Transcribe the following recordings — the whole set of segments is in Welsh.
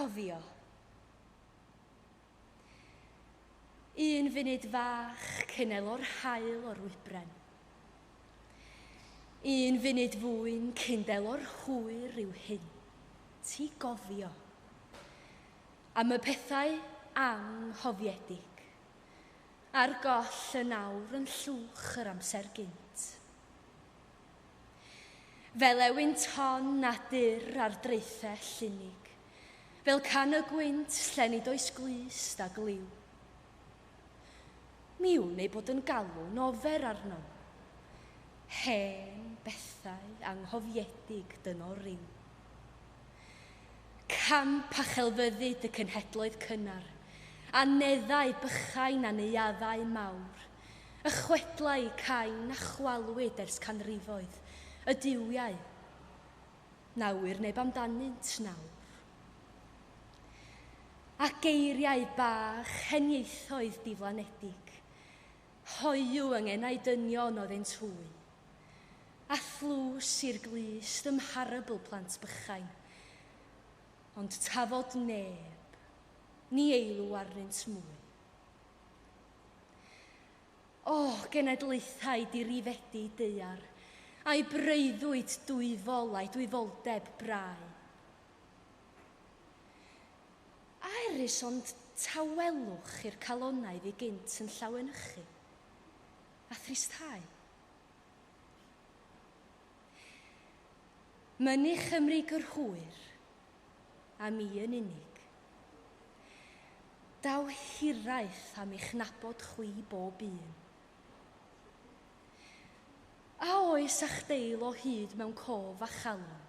Cofio. Un funud fach cyn elo'r haul o'r wybren. Un funud fwyn cyn delo'r hwyr i'w hyn. Ti gofio. Am y pethau anghofiedig. A'r goll yn awr yn llwch yr amser gynt. Fel ewyn ton na dur ar draethau llinig, Fel can y gwynt lle nid oes glust a gliw. Mi wn ei bod yn galw'n ofer arnom, Hen bethau anghofiedig dynno ryw. Camp a chelfyddyd y cenhedloedd cynnar, Aneddau bychain a neuaddau mawr, Y chwedlau cain a chwalwyd ers canrifoedd, y duwiau, na ŵyr neb amdanynt nawr. A geiriau bach heniaethoedd diflanedig, hoyw yng ngenau dynion oedd ein twy, a thlws i'r glust ym mharabl plant bychain. Ond tafod neb, ni eilw arnynt mwy. O, genedlaethau dirifedi deuar, a'i breuddwyd dwyfol a'i dwyfoldeb brau. A erys ond tawelwch i'r calonnau fu gynt yn llawenychu, a thristhau. Mynu Chymru gyrhwyr, a mi yn unig. Daw hiraeth am eich nabod chwi bob un. A oes a'ch deil o hyd mewn cof a chalon,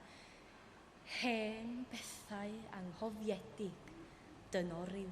hen bethau anghofiedig dynoryw?